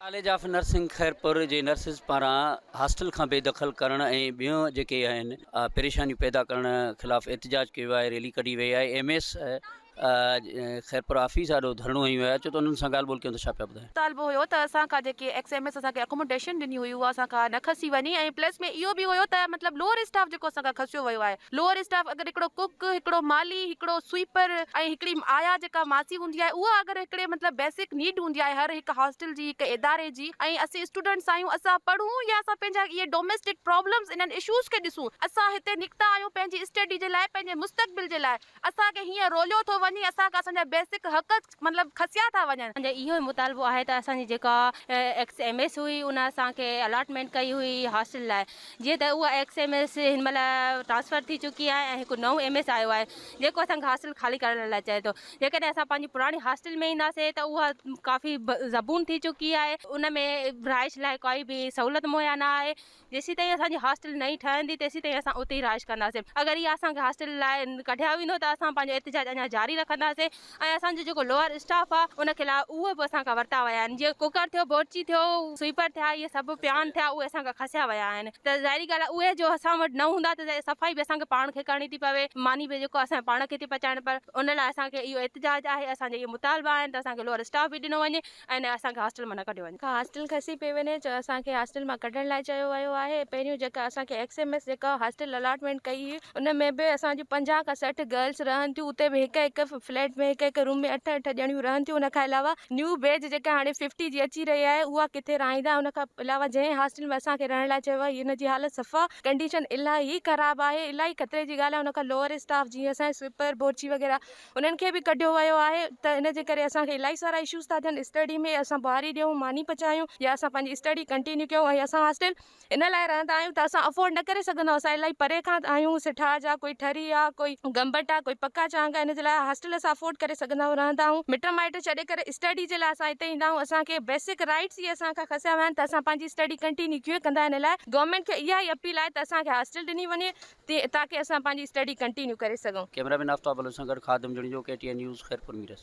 College of nursing Khairpur جي nurses پاران hostel کان بي دخل ڪرڻ ۽ ٻيون جيڪي آهن پريشانيون پيدا ڪرڻ خلاف احتجاج ڪيو آهي ريلي ڪڍي وئي آهي ايم ايس خيرپور آفيس آڏو ڌرڻو هنيو ويو آهي ڇو ته انهن سان ڳالهه ٻولهه ڪيون ته ڇا پيا ٻڌاين. مطالبو هيو ته اسان کان جيڪي ايڪس ايم ايس اسان کي اڪوموڊيشن ڏني هئي اها اسان کان نه کسي وڃي ۽ پلس ۾ اهو به هيو ته مطلب لوئر اسٽاف جيڪو اسان کان کسيو ويو آهي لوئر اسٽاف اگر هڪڙو ڪوڪ، هڪڙو مالي، هڪڙو سوئيپر ۽ هڪڙي آيا جيڪا ماسي هوندي آهي اها اگر هڪڙي مطلب بيسڪ نيڊ هوندي آهي هر هڪ هاسٽل جي هڪ اداري جي ۽ اسين اسٽوڊنٽس آهيون اسان پڙهون يا اسان پنهنجا اهي ڊوميسٽڪ پرابلمس انهن اشوز کي ڏسون اسان هتي نڪتا آهيون پنهنجي اسٽيڊي جي لاء پنهنجي مستقبل جي لاء اسان کي هيئن روليو ٿو وڃي، اسان کان اسان جا بيسڪ حق مطلب کسيا ٿا وڃن. اسان جو اهو ئي مطالبو آهي ته اسان جي جيڪا ايڪس ايم ايس هئي ان اسان کي الاٽمينٽ ڪئي هئي هاسٽل لاء جيئن ته اها ايڪس ايم ايس هن مهل ٽرانسفر ٿي چڪي آهي ۽ هڪ نئون ايم ايس آيو آهي جيڪو اسان کي هاسٽل خالي ڪرڻ لاء چئي ٿو جيڪڏهن اسان پنهنجي پراڻي هاسٽل ۾ اينداسين ته اها ڪافي زبون ٿي چڪي آهي ان ۾ رهائش لاء ڪائي به سهولت مهيا نه آهي. جيسيتائين اسان جي هاسٽل نئين ٺهندي تيسيتائين اسان اتي ئي رهائش ڪنداسين اگر اها اسان کي هاسٽل لاء ڪڍيا ويندو ته اسان پنهنجو احتجاج اڃا جاري رکنداسين ۽ اسان جو جيڪو لوئر اسٽاف آهي ان خلاف اهي به اسان کان ورتا ويا آهن جيئن ڪوڪر ٿيو بورچي ٿيو سوئيپر ٿيا اهي سڀ پيان ٿيا اهي اسان کان کسيا ويا آهن ته ظاهري ڳالهه آهي اهي جو اسان وٽ نه هوندا ته صفائي به اسان کي پاڻ کي ڪرڻي ٿي پوي ماني به جيڪو اسان پاڻ کي ٿي پچائڻ پر ان لاء اسان کي اهو احتجاج آهي اسان جا اهي مطالبا آهن ته اسان کي لوئر اسٽاف به ڏنو وڃي ۽ نه اسان کي هاسٽل مان نه ڪڍيو وڃي. ڪا هاسٽل کسي پئي وڃي جو اسان کي هاسٽل مان ڪڍڻ لاء چيو ويو آهي. پهريون جيڪا اسان کي ايڪس ايم ايس جيڪا هاسٽل الاٽمينٽ ڪئي هئي ان ۾ به اسان جون پنجاهه کان سٺ گرلس رهن ٿيون اتي به هڪ هڪ فليٽ ۾ هڪ هڪ روم ۾ اٺ اٺ ڄڻيون رهن ٿيون ان کان علاوه نيو بيچ جيڪا هاڻي ففٽي جي اچي رهي آهي اها ڪٿي رهائيندا ان کان علاوه جنهن هاسٽل ۾ اسان کي رهڻ لاء چيو ويو آهي ان جي حالت صفا ڪنڊيشن الاهي خراب آهي الاهي خطري جي ڳالهه آهي ان کان لوئر اسٽاف جيئن اسان جي سوئپر بورچي وغيره انهن کي به ڪڍيو ويو آهي ته ان جي ڪري اسان کي الائي سارا اشوز ٿا ٿين اسٽڊي ۾ اسان بهاري ڏيون ماني پچايون يا اسان پنهنجي اسٽڊي ڪنٽينيو ڪيون ۽ اسان هاسٽل ان لاء رهندا آهيون ته اسان افورڊ نه ڪري سگهندا اسان الائي پري کان آهيون سٺاهه جا ڪوئي ٺري آ ڪوئي گمبٽ آ ڪوئي پڪا چانگ آ ان جي لاء هاسٽل اسان افورڊ ڪري سگهندا آهيون رهندا آهيون مٽ مائٽ ڇڏي ڪري اسٽڊي جي لاء اسان هتي ايندا آهيون اسان کي بيسڪ رائيٽس ئي اسان کان کسيا ويا آهن ته اسان پنهنجي اسٽڊي ڪنٽينيو ڪيئن ڪندا ان لاء گورنمينٽ کي اها ئي اپيل آهي ته اسان کي هاسٽل ڏني وڃي تاڪه اسان پنهنجي اسٽڊي ڪنٽينيو ڪري سگهون. ڪيمرا مين آفتاب بلوچ سان گڏ Khadim Junejo K T N news Khairpur Mirs.